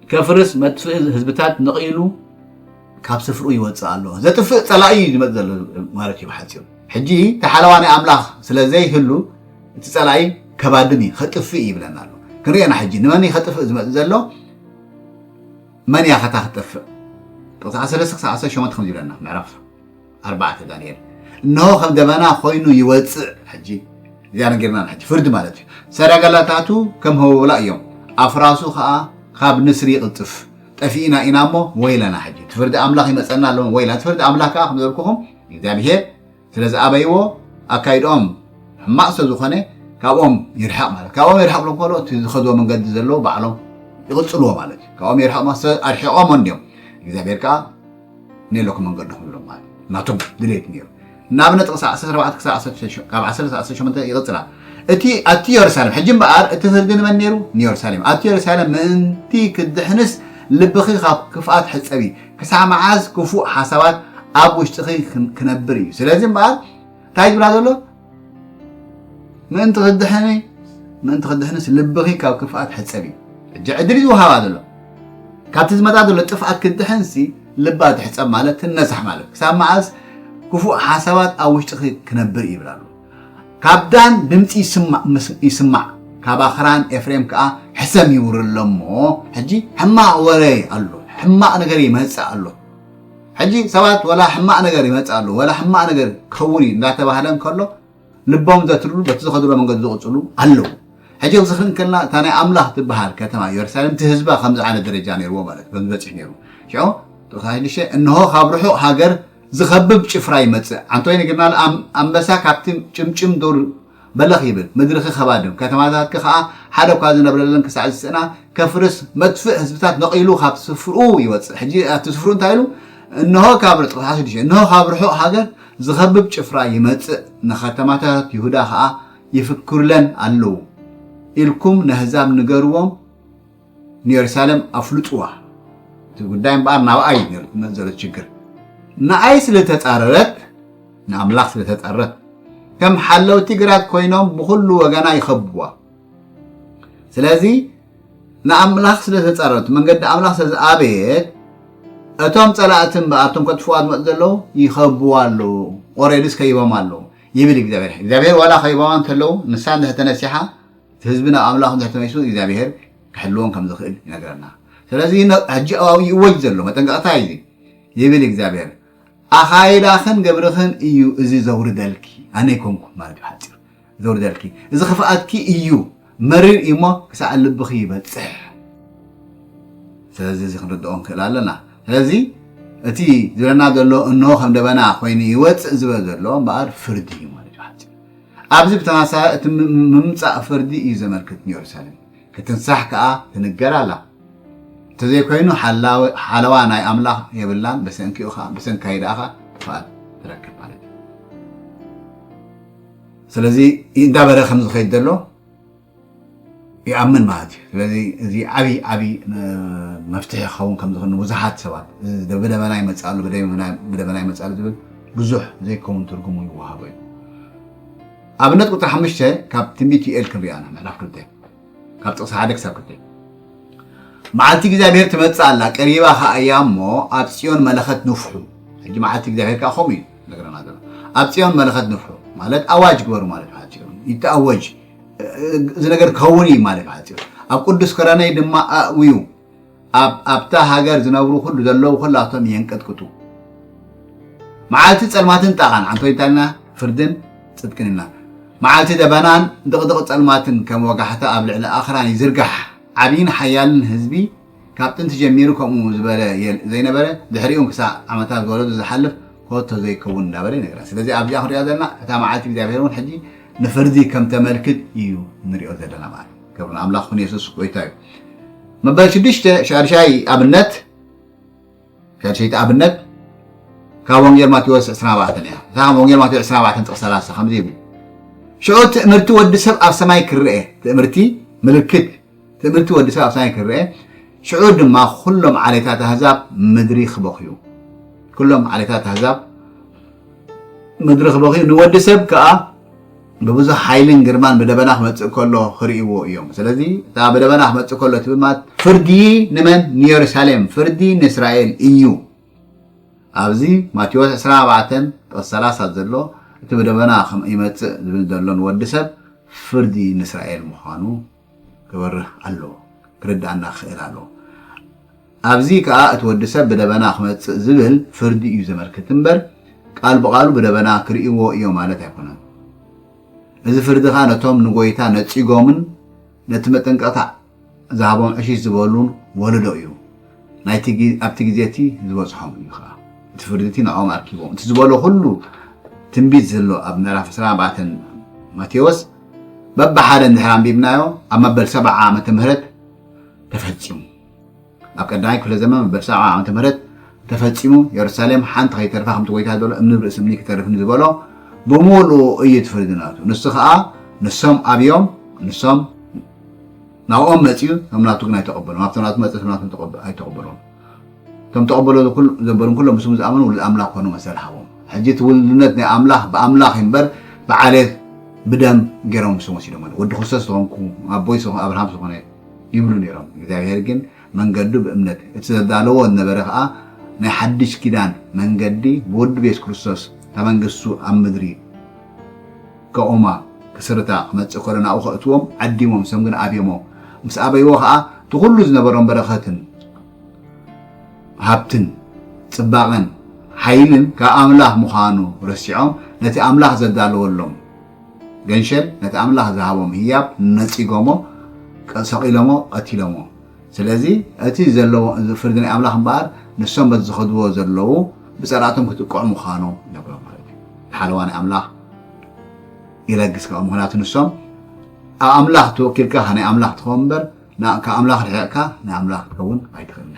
ከፍርስ መጥፍኢ ህዝብታት ነቒሉ ካብ ስፍርኡ ይወፅእ ኣሎ። ዘጥፍእ ፀላኢ እዩ ዝመፅ ዘሎ ማለት እዩ ብሓፂሩ። ሕጂ ተሓለዋ ናይ ኣምላኽ ስለ ዘይህሉ እቲ ፀላኢ ከባድም እዩ ከጥፍእ ይብለና ኣሎ። ክንሪኤና ሕጂ ንመን እዩ ከጥፍእ ዝመፅ ዘሎ መን እያ ከታ ክትጠፍእ ጥቕሲ 13 ክሳብ 18 ከምዚ ይብለና ምዕራፍ ኣርባዕተ ዳንኤል እነሆ ከም ደበና ኮይኑ ይወፅእ ሕጂ እዚኣ ነጊርና ሕጂ ፍርዲ ማለት እዩ ሰረገላታቱ ከም ህወብላ እዮም ኣፍራሱ ከዓ ካብ ንስሪ ይቕልጥፍ ጠፊእና ኢና እሞ ወይለና ሕጂ እቲ ፍርዲ ኣምላኽ ይመፀና ኣለዎ ወይለና እቲ ፍርዲ ኣምላኽ ከዓ ከም ዘበልኩኹም እግዚኣብሄር ስለ ዝኣበይዎ ኣካይድኦም ሕማቕ ስለ ዝኾነ ካብኦም ይርሕቕ ማለት ካብኦም ይርሕቕ ብሎም ከሎ እቲ ዝኸዝዎ መንገዲ ዘለዎ ባዕሎም ይቕፅልዎ ማለት እዩ ካብኦም ይርሕቕ ኣርሒቖም እንዲዮም እግዚኣብሔር ከዓ ኔሎክ መንገዱ ክብሎም ማለት እዩ ናቶም ድሌት ነይሩ ንኣብነት ቕሲ 14 ክሳብ 16 ካብ 10 ክሳብ 18 ይቕፅላ እቲ ኣቲ የሩሳሌም ሕጂ እምበኣር እቲ ፍርዲ ንመን ነይሩ ንየሩሳሌም ኣቲ የሩሳሌም ምእንቲ ክድሕንስ ልብኺ ካብ ክፍኣት ሕፀቢ ክሳዕ መዓዝ ክፉእ ሓሳባት ኣብ ውሽጥኺ ክነብር እዩ ስለዚ እምበኣር እንታይ ዝብላ ዘሎ ምእንቲ ክድሕኒ ምእንቲ ክድሕንስ ልብኺ ካብ ክፍኣት ሕፀቢ ሕጂ ዕድል እዩ ዝውሃባ ዘሎ ካብቲ ዝመፃ ዘሎ ጥፍኣት ክድሕንሲ ልባ ትሕፀብ ማለት ትነሳሕ ማለት ክሳብ መዓዝ ክፉእ ሓሳባት ኣብ ውሽጢኺ ክነብር ይብል ኣሎ ካብ ዳን ድምፂ ይስማዕ ካብ ኣኽራን ኤፍሬም ከዓ ሕሰም ይውርሎ እሞ ሕጂ ሕማቕ ወረ ኣሎ ሕማቕ ነገር ይመፅእ ኣሎ ሕጂ ሰባት ወላ ሕማቅ ነገር ይመጽእ ኣሎ ወላ ሕማቅ ነገር ክኸውን እዩ እንዳተባህለ እንከሎ ልቦም ዘትርሉ በቲ ዝኸድሎ መንገዲ ዝቕጽሉ ኣለዉ። ሕጂ ክዝክሪ እንከለና እታ ናይ ኣምላኽ ትበሃል ከተማ ኢየሩሳሌም እቲ ህዝባ ከምዚ ዓይነት ደረጃ ነይርዎ ማለት እዩ ከምዚ በጺሑ ነይሩ ሽዑ ጥቕሳ ሽዱሽተ እንሆ ካብ ርሑቕ ሃገር ዝኸብብ ጭፍራ ይመጽእ ዓንቶ ይነግርና ኣንበሳ ካብቲ ጭምጭም ዱር በለኽ ይብል ምድርኺ ከባድም ከተማታትኪ ከኣ ሓደ እኳ ዝነብረለን ክሳዕ ዝስእና ከፍርስ መጥፍእ ህዝብታት ነቒሉ ካብ ስፍርኡ ይወጽእ ሕጂ ኣቲ ስፍርኡ እንታይ ኢሉ እንሆ ካብ ርጡቕ ሰዓት ሽዱሽተ እንሆ ካብ ርሑቕ ሃገር ዝኸብብ ጭፍራ ይመጽእ ንከተማታት ይሁዳ ከኣ ይፍክሩለን ኣለዉ ኢልኩም ነህዛብ ንገርዎም ንዮርሳለም ኣፍልጥዋ እቲ ጉዳይ እምበኣር ናብኣ እዩ ነይሩ ትመፅ ዘሎ ችግር ንኣይ ስለተፃረረት ንኣምላኽ ስለተፃረረት ከም ሓለውቲ ግራት ኮይኖም ብኩሉ ወገና ይኸብዋ ስለዚ ንኣምላኽ ስለተፃረረት መንገዲ ኣምላኽ ስለዝኣበየት እቶም ፀላእቲ እምበኣር እቶም ከጥፍዋ ዝመፁ ዘለዉ ይኸብዋ ኣለዉ ኦሬድስ ከይቦም ኣለዉ ይብል እግዚኣብሔር እግዚኣብሔር ዋላ ከይቦማ እንተለዉ ንሳ እንድሕር ተነሲሓ እቲ ህዝብና ኣምላኽ እንድሕር ተመሊሱ እግዚኣብሄር ክሕልዎም ከም ዝኽእል ይነግረና። ስለዚ ሕጂ ኣብኡ ይእወጅ ዘሎ መጠንቀቕታ እዩ እዚ ይብል እግዚኣብሄር ኣኻይዳኽን ግብርኽን እዩ እዚ ዘውርደልኪ ኣነ ኣይኮንኩን ማለት እዩ ሓፂሩ ዘውርደልኪ እዚ ክፍኣትኪ እዩ መሪር እዩ እሞ ክሳዕ ልብኺ ይበፅሕ ስለዚ እዚ ክንርድኦ ንክእል ኣለና ስለዚ እቲ ዝብለና ዘሎ እንሆ ከም ደበና ኮይኑ ይወፅእ ዝበል ዘሎ እምበኣር ፍርዲ እዩ ማለት እዩ ኣብዚ ብተመሳሳሊ እቲ ምምጻእ ፍርዲ እዩ ዘመልክት ንየሩሳሌም ክትንሳሕ ከኣ ትንገር ኣላ እንተዘይኮይኑ ሓለዋ ናይ ኣምላኽ የብላን በሰንኪኡ ከኣ ብሰንካይ ደኣ ከኣ ጥፍኣት ትረክብ ማለት እዩ ስለዚ እንዳበረ ከም ዝኸይድ ዘሎ ይኣምን ማለት እዩ ስለዚ እዚ ዓብይ ዓብይ መፍትሒ ክኸውን ከም ዝኽእል ንብዙሓት ሰባት ብደበና ይመፅኣሉ ብደበና ይመፅኣሉ ዝብል ብዙሕ ዘይከውን ትርጉሙ ይወሃቦ እዩ ኣብነት ቁፅሪ ሓሙሽተ ካብ ትንቢት ዩኤል ክንሪኣ ኢና ምዕራፍ ክልተ ካብ ጥቕሲ ሓደ ክሳብ ክልተ መዓልቲ እግዚኣብሄር ትመፅእ ኣላ ቀሪባ ከዓ እያ እሞ ኣብ ፅዮን መለኸት ንፍሑ ሕጂ መዓልቲ እግዚኣብሄር ከዓ ከምኡ እዩ ነገረና ዘሎ ኣብ ፅዮን መለኸት ንፍሑ ማለት ኣዋጅ ግበሩ ማለት ይተኣወጅ እዚ ነገር ክኸውን እዩ ማለት ማለት እዩ ኣብ ቅዱስ ክረነይ ድማ ኣእውዩ ኣብታ ሃገር ዝነብሩ ኩሉ ዘለዉ ኩላቶም የንቀጥቅጡ መዓልቲ ፀልማትን ጣቓን ዓንቶ ይታልና ፍርድን ፅድቅን ኢልና መዓልቲ ደበናን ድቕድቕ ፀልማትን ከም ወጋሕታ ኣብ ልዕሊ ኣኽራን ይዝርጋሕ ዓብይን ሓያልን ህዝቢ ካብ ጥንቲ ጀሚሩ ከምኡ ዝበለ ዘይነበረ ድሕሪኡን ክሳዕ ዓመታት ዝወለዱ ዝሓልፍ ኮቶ ዘይከውን እንዳበለ ይነግረና ስለዚ ኣብዚኣ ክንሪኦ ዘለና እታ መዓልቲ እግዚኣብሔር እውን ሕጂ ንፍርዲ ከም ተመልክት እዩ ንሪኦ ዘለና ማለት ክብሪ ንኣምላኽ ኩን የሱስ ጎይታ እዩ መበል ሽዱሽተ ሻድሻይ ኣብነት ሻድሸይቲ ኣብነት ካብ ወንጌል ማቴዎስ 24 እያ እታ ካብ ወንጌል ማቴዎስ 24 ጥቕስ 30 ከምዚ ይብል ሽዑ ትእምርቲ ወዲ ሰብ ኣብ ሰማይ ክርአ ትእምርቲ ምልክት ትእምርቲ ወዲ ሰብ ኣብ ሰማይ ክረኤ ሽዑ ድማ ኩሎም ዓሌታት ኣህዛብ ምድሪ ክበኽዩ ኩሎም ዓሌታት ኣህዛብ ምድሪ ክበኽዩ ንወዲ ሰብ ከዓ ብብዙሕ ሓይልን ግርማን ብደበና ክመፅእ ከሎ ክርእይዎ እዮም ስለዚ እታ ብደበና ክመፅእ ከሎ ትብል ማለት ፍርዲ ንመን ንየሩሳሌም ፍርዲ ንእስራኤል እዩ ኣብዚ ማቴዎስ ዕስራን ኣርባዕተን ጥቕሲ ሰላሳ ዘሎ እቲ ብደበና ከም ይመጽእ ዝብል ዘሎ ንወዲ ሰብ ፍርዲ ንእስራኤል ምዃኑ ክበርህ ኣለዎ ክርድኣና ክኽእል ኣለዎ። ኣብዚ ከኣ እቲ ወዲ ሰብ ብደበና ክመጽእ ዝብል ፍርዲ እዩ ዘመልክት እምበር ቃል ብቓሉ ብደበና ክርእይዎ እዮ ማለት ኣይኮነን። እዚ ፍርዲ ከኣ ነቶም ንጎይታ ነጺጎምን ነቲ መጠንቀቕታ ዝሃቦም ዕሽሽ ዝበሉን ወለዶ እዩ። ናይቲ ኣብቲ ግዜ እቲ ዝበጽሖም እዩ ከኣ እቲ ፍርዲ እቲ ንዕኦም ኣርኪቦም እቲ ዝበሎ ኩሉ ትንቢት ዘሎ ኣብ ምዕራፍ ዕስራን ኣርባዕተን ማቴዎስ በብሓደ እንድሕር ኣንቢብናዮ ኣብ መበል ሰብዓ ዓመተ ምህረት ተፈጺሙ። ኣብ ቀዳማይ ክፍለ ዘመን መበል ሰብዓ ዓመተ ምህረት ተፈጺሙ የሩሳሌም ሓንቲ ከይተርፋ ከምቲ ጎይታ ዘሎ እምኒ ብ ርእሲ እምኒ ክተርፍ ንዝበሎ ብምሉኡ እዩ እቲ ፍርዲ ናቱ ንሱ ከኣ ንሶም ኣብዮም ንሶም ናብኦም መጽዩ ቶም ናቱ ግን ኣይተቐበሎም ኣብቶም ናቱ መጽ ቶም ናቱ ኣይተቐበሎም ቶም ተቐበሎ ዘበሉን ኩሎም ምስሙ ዝኣመኑ ውሉድ ኣምላኽ ኮኑ መሰል ሃቦም ሕጂ እቲ ውልድነት ናይ ኣምላኽ ብኣምላኽ እምበር ብዓሌት ብደም ገይሮም ምስም ወሲዶም ወዲ ክርስቶስ ዝኾንኩ ኣቦይ ኣብርሃም ዝኾነ ይብሉ ነይሮም። እግዚኣብሔር ግን መንገዱ ብእምነት እቲ ዘዳለዎ ዝነበረ ከኣ ናይ ሓድሽ ኪዳን መንገዲ ብወዱ ብየሱስ ክርስቶስ እታ መንግስቱ ኣብ ምድሪ ከቑማ ክስርታ ክመጽእ ከሎ ናብኡ ከእትዎም ዓዲሞም ሰም ግን ኣብዮሞ ምስ ኣበይዎ ከኣ እቲ ኩሉ ዝነበሮም በረኸትን ሃብትን ጽባቐን ሓይልን ካብ ኣምላኽ ምዃኑ ረሲዖም ነቲ ኣምላኽ ዘዳለወሎም ገንሸል ነቲ ኣምላኽ ዝሃቦም ህያብ ነጺጎሞ ሰቒሎሞ ቐቲሎሞ ስለዚ እቲ ዘለዎ ፍርዲ ናይ ኣምላኽ እምበኣር ንሶም በቲ ዝኸድዎ ዘለዉ ብጸላእቶም ክጥቅዑ ምዃኖም ይነግሮም ማለት እዩ ሓለዋ ናይ ኣምላኽ ይለግስ ከኣ ምኽንያቱ ንሶም ኣብ ኣምላኽ ተወኪልካ ናይ ኣምላኽ ትኸውን እምበር ካብ ኣምላኽ ርሒቕካ ናይ ኣምላኽ ክትከውን ኣይትኽእልን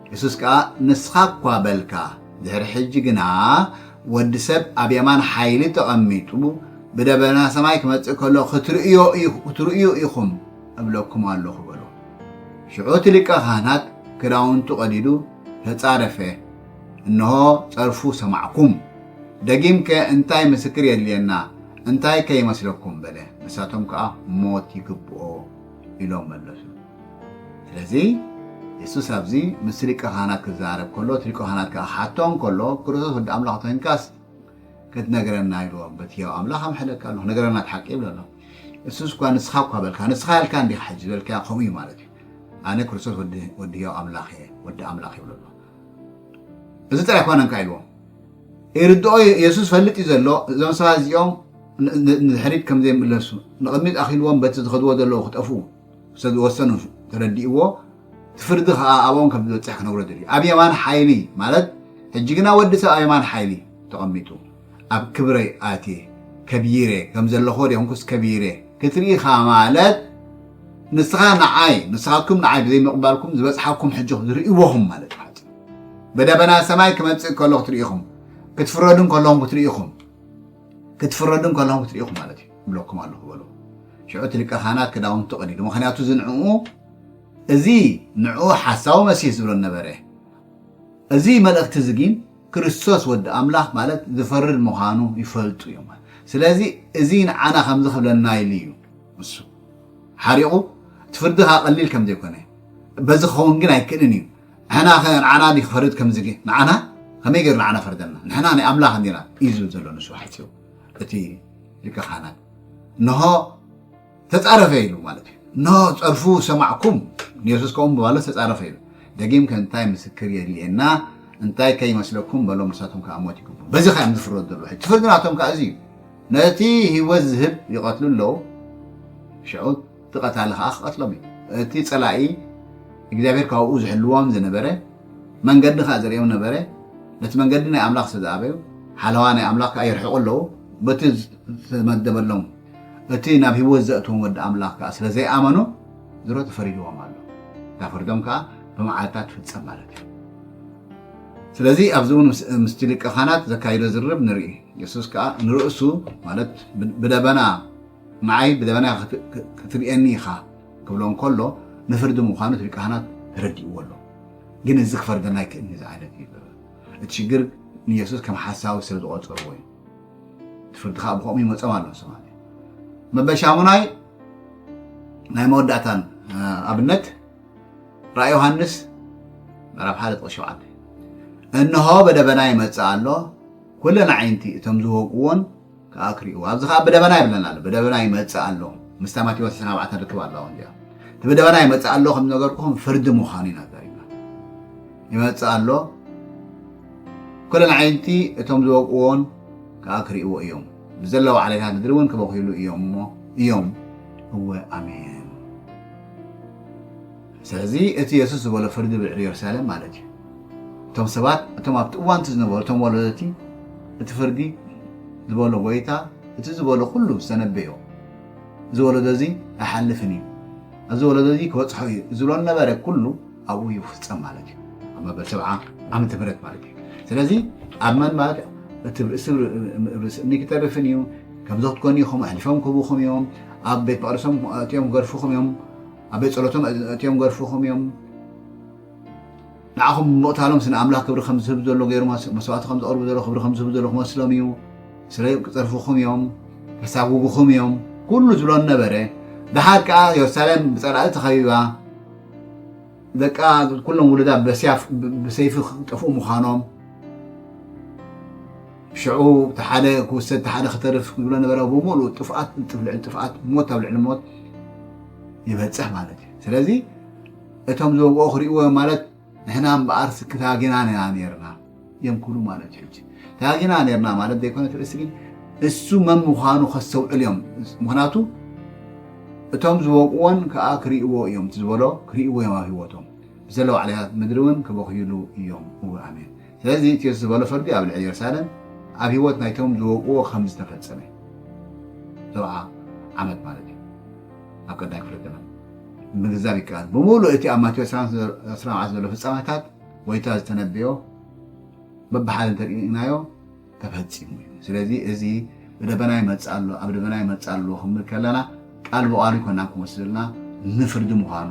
የሱስ ከኣ ንስኻ እኳ በልካ፣ ድሕሪ ሕጂ ግና ወዲ ሰብ ኣብ የማን ሓይሊ ተቐሚጡ ብደበና ሰማይ ክመጽእ ከሎ ክትርእዩ ኢኹም እብለኩም ኣሎኹ በሎ። ሽዑ እቲ ሊቀ ኻህናት ክዳውንቱ ቀዲዱ ተጻረፈ፣ እንሆ ጸርፉ ሰማዕኩም፣ ደጊምከ እንታይ ምስክር የድልየና፣ እንታይከ ይመስለኩም በለ። ንሳቶም ከኣ ሞት ይግብኦ። ኢሎም መለሱ። ስለዚ የሱስ ኣብዚ ምስቲ ሊቀ ካህናት ክዛረብ ከሎ፣ እቲ ሊቀ ካህናት ከኣ ክሓቶ እንከሎ፣ ክርስቶስ ወዲ ኣምላኽ እንተ ዄንካስ ክትነግረና ኢልዎ። በቲ ህያው ኣምላኽ ኣምሕለካ ኣሎኹ፣ ንገረና እቲ ሓቂ ይብል ኣሎ። የሱስ እኳ ንስኻ እኳ በልካ፣ ንስኻ ኣልካ እንዲኻ ሕጂ ዝበልካዮ ከምኡ እዩ ማለት እዩ። ኣነ ክርስቶስ ወዲ ህያው ኣምላኽ እየ፣ ወዲ ኣምላኽ ይብሎ ኣሎ። እዚ ጥራይ ኣይኮነን ከኣ ኢልዎ። ይርድኦ እዩ የሱስ ፈልጥ እዩ ዘሎ እዞም ሰባት እዚኦም ንድሕሪት ከም ዘይምለሱ ንቕድሚት ኣኺልዎም በቲ ዝኸድዎ ዘለዉ ክጠፍኡ ስለ ዝወሰኑ ተረዲእዎ እቲ ፍርዲ ከዓ ኣብኦም ከም ዝበፅሕ ክነግሮ ደልዩ ኣብ የማን ሓይሊ ማለት ሕጂ ግና ወዲ ሰብ ኣብ የማን ሓይሊ ተቐሚጡ ኣብ ክብረይ ኣትየ ከቢረ ከም ዘለኹ ሪኦንኩስ ከቢረ ክትርኢኻ ማለት ንስኻ ንዓይ ንስኻትኩም ንዓይ ብዘይምቕባልኩም ዝበፅሓኩም ሕጂ ዝርእዎኹም ማለት እዩ ብደበና ሰማይ ክመጽእ ከሎ ክትርኢ ኢኹም ክትፍረዱ ከለኹም ክትርኢ ኢኹም ክትፍረዱ ከለኹም ክትርኢ ኢኹም ማለት እዩ እብለኩም ኣለኹ በሉ ሽዑ እቲ ሊቀ ካህናት ክዳውንቱ ቀዲዱ ምክንያቱ እዚ ንዕኡ እዚ ንዕኡ ሓሳዊ መሲህ ዝብሎ ነበረ እዚ መልእኽቲ እዚ ግን ክርስቶስ ወዲ ኣምላኽ ማለት ዝፈርድ ምዃኑ ይፈልጡ እዮም ስለዚ እዚ ንዓና ከምዚ ክብለና ኢሉ እዩ ንሱ ሓሪቑ እቲ ፍርድኻ ቀሊል ከም ዘይኮነ በዚ ክኸውን ግን ኣይክእልን እዩ ንሕናኸ ንዓና እንዲ ክፈርድ ከምዝገ ንዓና ከመይ ገይሩ ንዓና ፈርደልና ንሕና ናይ ኣምላኽ እንዲና እዩ ዝብል ዘሎ ንሱ ሓጺሩ እቲ ሊቀ ካህናት እንሆ ተጻረፈ ኢሉ ማለት እዩ እንሆ ጸርፉ ሰማዕኩም ንየሱስ ከምኡ ምባሉ ተጻረፈ ኢሉ ደጊም ከ እንታይ ምስክር የድልየና እንታይ ከይመስለኩም በሎም ንሳቶም ከዓ ሞት ይግቡ በዚ ከዓ እዮም ዝፍረዱ ዘለዉ ሕጂ ፍርዲ ናቶም ከዓ እዚ እዩ ነቲ ህይወት ዝህብ ይቐትሉ ኣለዉ ሽዑ እቲ ቀታሊ ኸኣ ክቐትሎም እዩ። እቲ ጸላኢ እግዚኣብሄር ካብኡ ዝሕልዎም ዝነበረ መንገዲ ኸኣ ዘርእዮም ነበረ፣ ነቲ መንገዲ ናይ ኣምላኽ ስለ ዝኣበዩ፣ ሓለዋ ናይ ኣምላኽ ከኣ ይርሕቑ ኣለዉ፣ በቲ ዝተመደበሎም እቲ ናብ ህይወት ዘእትዎም ወዲ ኣምላኽ ከኣ ስለ ዘይኣመኑ ድሮ ተፈሪድዎም ኣሎ፣ እታ ፍርዶም ከኣ ብመዓልታ ትፍጸም ማለት እዩ። ስለዚ ኣብዚ እውን ምስቲ ሊቀ-ኻህናት ዘካይዶ ዝርርብ ንርኢ፣ የሱስ ከኣ ንርእሱ ማለት ብደበና፣ ንዓይ ብደበና ክትርእየኒ ኢኻ ክብሎ እንከሎ ንፍርዲ ምዃኑ እቲ ሊቀ ካህናት ተረዲእዎ ኣሎ። ግን እዚ ክፈርደና ኣይክእልን እዩ ዝዓለት እዩ በበ። እቲ ሽግር ንየሱስ ከም ሓሳዊ ስለ ዝቖጸርዎ እዩ። እቲ ፍርዲ ከኣ ብኸምኡ ይመጾም ኣሎ ንሶም ኣለ። መበል ሻሙናይ ናይ መወዳእታን ኣብነት ራእይ ዮሃንስ ምዕራፍ ሓደ ጥቕስ ሸውዓተ እንሆ በደበና ይመጽእ ኣሎ ኩለን ኣዒንቲ እቶም ዝወግእዎን ከኣ ክሪእዎ ኣብዚ ከኣ ብደበና ይብለና ኣሎ ብደበና ይመጽእ ኣሎ ምስታ ማቴዎስ ዕስራን ኣርባዕተን ርክብ ኣለዋ እዚኣ እቲ ብደበና ይመጽእ ኣሎ ከም ነገርኩኹም ፍርዲ ምዃኑ ኢና ተሪብና ይመጽእ ኣሎ ኩለን ዓይንቲ እቶም ዝወቅዎን ከኣ ክሪእዎ እዮም ብዘለዎ ዓሌታት ምድሪ እውን ክበኽይሉ እዮም እሞ እዮም እወ ኣሜን ስለዚ እቲ የሱስ ዝበሎ ፍርዲ ብልዕሊ የሩሳሌም ማለት እዩ። እቶም ሰባት እቶም ኣብቲ እዋን እቲ ዝነበሩ እቶም ወለደቲ እቲ ፍርዲ ዝበሎ ጎይታ እቲ ዝበሎ ኩሉ ዝተነበዮ እዚ ወለዶ እዚ ኣይሓልፍን እዩ ኣብዚ ወለዶ እዚ ክበፅሖ እዩ ዝብሎ ነበረ ኩሉ ኣብኡ ይፍፀም ማለት እዩ ኣብ መበል ሰብዓ ዓመተ ምህረት ማለት እዩ ስለዚ ኣብ መን ማለት እቲ ርእሲ ርእሲ እምኒ ክተርፍን እዩ ከምዚ ክትኮኑ ኢኹም ኣሕሊፎም ክህቡኹም እዮም ኣብ ቤት መቅደሶም እትኦም ክገርፉኹም እዮም ኣብ ቤት ጸሎቶም ኣእትዮም ገርፍኹም እዮም ንዓኹም ብምቕታሎም ስነ ኣምላኽ ክብሪ ከም ዝህብ ዘሎ ገይሩ መስዋእቲ ከም ዘቕርቡ ዘሎ ክብሪ ከም ዝህብ ዘሎ ክመስሎም እዩ ስለ ክጸርፍኹም እዮም ከሳጉጉኹም እዮም ኩሉ ዝብሎ ነበረ ድሓር ከዓ የሩሳሌም ብጸላኢ ተኸቢባ ደቃ ኩሎም ውሉዳ በስያፍ ብሰይፊ ክጠፍኡ ምዃኖም ሽዑ እቲ ሓደ ክውሰድ እቲ ሓደ ክተርፍ ዝብሎ ነበረ ብምሉእ ጥፍኣት ጥፍልዕል ጥፍኣት ሞት ኣብ ልዕሊ ሞት ይበፅሕ ማለት እዩ ስለዚ እቶም ዝወግኦ ክሪእዎ እዮም ማለት ንሕና እምበኣር ስኪ ታጊና ኢና ነርና እዮም ክብሉ ማለት እዩ ታጊና ነርና ማለት ዘይኮነ ትርእሲ ግን እሱ መን ምዃኑ ከስተውዕል እዮም ምክንያቱ እቶም ዝወቅዎን ከዓ ክሪእዎ እዮም ዝበሎ ክሪእዎ እዮም ኣብ ህይወቶም ብዘለዋ ዕለታት ምድሪ እውን ክበኽይሉ እዮም እወ ኣሜን ስለዚ እቲ የሱስ ዝበሎ ፍርዲ ኣብ ልዕሊ የሩሳሌም ኣብ ህይወት ናይቶም ዝወግእዎ ከም ዝተፈጸመ እዩ። ሰብዓ ዓመት ማለት እዩ። ኣብ ቀዳይ ክፍለ ዘመን ምግንዛብ ይከኣል። ብምሉእ እቲ ኣብ ማቴዎስ ዕስራን ዓሰርተ ዘሎ ፍጻመታት ጐይታ ዝተነበዮ በብሓደ እንተ ርኢናዮ ተፈጺሙ እዩ። ስለዚ እዚ ብደበና ይመጽእ ኣሎ ኣብ ደበና ይመጽእ ኣሎ ክንብል ከለና ቃል ብቓሉ ኣይኮናን ክወስደልና ንፍርዲ ምዃኑ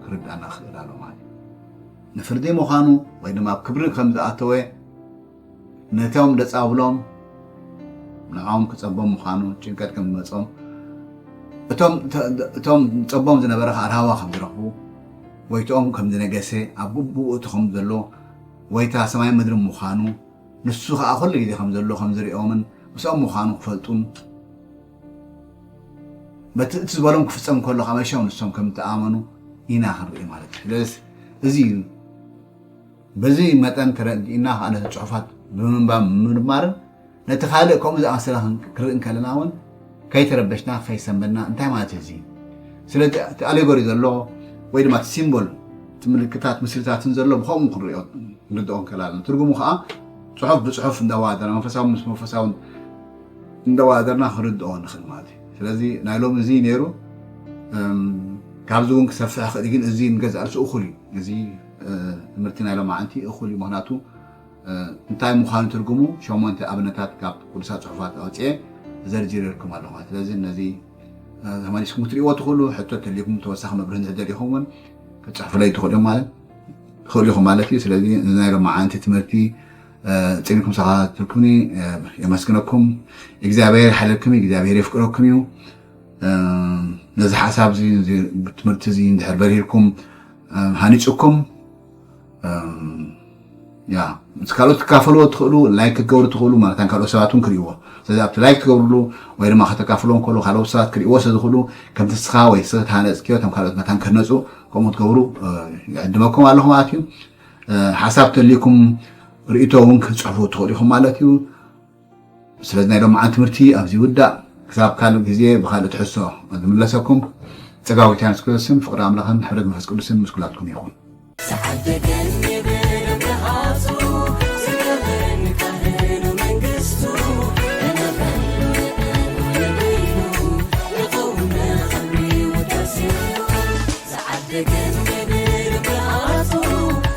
ክርድኣና ክኽእል ኣሎ ማለት እዩ። ንፍርዲ ምዃኑ ወይ ድማ ኣብ ክብሪ ከም ዝኣተወ ነቶም ደጻብሎም ንዓኦም ክጸቦም ምዃኑ ጭንቀት ከም ዝመጾም እቶም ጸቦም ዝነበረ ከዓ ራህዋ ከም ዝረኽቡ ወይትኦም ከም ዝነገሰ ኣብ ግቡኡ እቲ ከም ዘሎ ወይታ ሰማይ ምድሪ ምዃኑ ንሱ ከዓ ኩሉ ግዜ ከም ዘሎ ከም ዝሪኦምን ምስኦም ምዃኑ ክፈልጡን በቲ እቲ ዝበሎም ክፍፀም ከሎ ከዓ መሸም ንሶም ከም ተኣመኑ ኢና ክንርኢ ማለት እዩ ስለዚ እዚ እዩ በዚ መጠን ተረዲእና ከዓ ነቲ ፅሑፋት ብምንባብ ምምርማርን ነቲ ካልእ ከምኡ ዝኣመሰለ ክንርኢ እንከለና እውን ከይተረበሽና ከይሰንበድና እንታይ ማለት እዩ እዚ ስለዚ እቲ ኣሌጎሪ ዘሎ ወይ ድማ እቲ ሲምቦል እቲ ምልክታት ምስልታትን ዘሎ ብከምኡ ክንሪኦ ክንርድኦ እንከላለን ትርጉሙ ከዓ ፅሑፍ ብፅሑፍ እንዳዋሃደና መንፈሳዊ ምስ መንፈሳውን እንዳዋዳደርና ክንርድኦ ንኽእል ማለት እዩ ስለዚ ናይ ሎሚ እዚ ነይሩ ካብዚ እውን ክሰፍሕ ይኽእል ግን እዚ ንገዛእ ርእሱ እኹል እዩ እዚ ትምህርቲ ናይ ሎማዓንቲ እኹል እዩ ምክንያቱ እንታይ ምዃኑ ትርጉሙ ሸሞንተ ኣብነታት ካብ ቅዱሳት ፅሑፋት ኣውፅኤ ዘርጅርልኩም ኣለኹ ስለዚ ነዚ ተመሊስኩም ክትሪእዎ ትኽእሉ ሕቶ ተልይኩም ተወሳኺ መብርህ እንተደሊኹም እውን ክፅሕፉለይ ትኽእሉ ማለት ትኽእሉ ኢኹም ማለት እዩ ስለዚ ናይ ሎማዓንቲ ትምህርቲ ጺንኩም ዝተኸታተልኩምኒ የመስግነኩም። እግዚኣብሔር ይሓለልኩም እዩ፣ እግዚኣብሔር የፍቅረኩም እዩ። ነዚ ሓሳብ እዚ ትምህርቲ እዚ እንድሕር በሪህልኩም ሃኒፅኩም ያ ምስ ካልኦት ትካፈልዎ ትኽእሉ ላይክ ክትገብሩ ትኽእሉ ማለት ካልኦት ሰባት እውን ክርእይዎ ስለዚ ኣብቲ ላይክ ትገብርሉ ወይ ድማ ከተካፍሎ ከሎ ካልኦት ሰባት ክርእይዎ ስለ ዝኽእሉ ከምቲ ንስኻ ወይ ሰተሃነፅክዮ እቶም ካልኦት መታን ክህነፁ ከምኡ ትገብሩ ይዕድመኩም ኣለኹ ማለት እዩ ሓሳብ ተልዩኩም ርእቶ እውን ክትፅሕፉ ትኽእሉ ኢኹም ማለት እዩ ስለዚ ናይ ሎሚ መዓልቲ ትምህርቲ ኣብዚ ይውዳእ ክሳብ ካልእ ግዜ ብካልእ ትሕሶ ዝምለሰኩም ፀጋዊ ቴያንስ ክርስቶስን ፍቅሪ ኣምላኽን ሕብረት መንፈስ ቅዱስን ምስ ኩላትኩም ይኹን